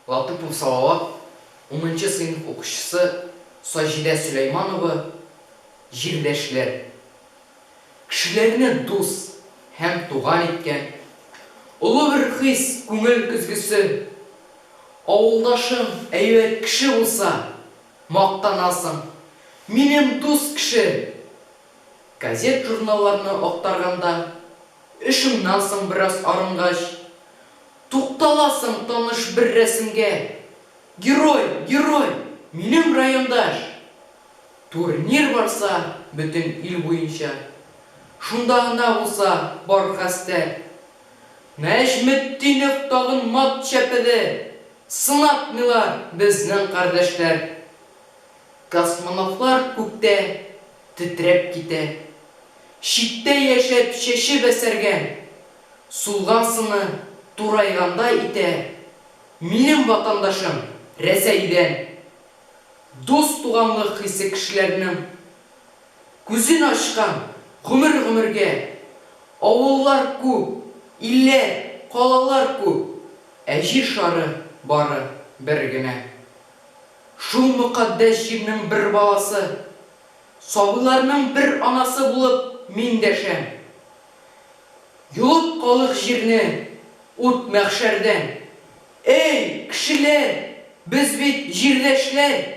Латыпов Салават, унынчы сыйныф укучысы Саҗидә Сөләйманова, Җирдәшләр, кешеләрне дус һәм туган иткән, олы бер хис, күңел көзгесе. Авылдашың әйбәт кеше булса, мактанасың, минем дус кеше! Газет-журналларны актарганда, эшеңнән соң бераз арынгач, Тукталасың таныш бер рәсемгә, Герой, герой, минем райондаш! Турнир барса бөтен ил буенча, Шунда гына уза бар хәстәр. Нәҗметдинов тагын мат чәпеде, Сынатмыйлар безнең кардәшләр. Космонавтлар күктә тетрәп китә, Читтә яшәп чәче бәсәргән. Сулган сыны турайгандай итә Минем ватандашым Рәсәйдән Дус-туганлык хисе кешеләрнең Күзен ачкан гомер-гомергә Авыллар күп, илләр, калалар күп Ә җир шары бары бер генә Шул мөкатдәс җирнең бер баласы Сабыйларның бер анасы булып мин дәшәм Йолып калык җирне, ут мәхшәрдән. Әй, кешеләр, без бит җирдәшләр!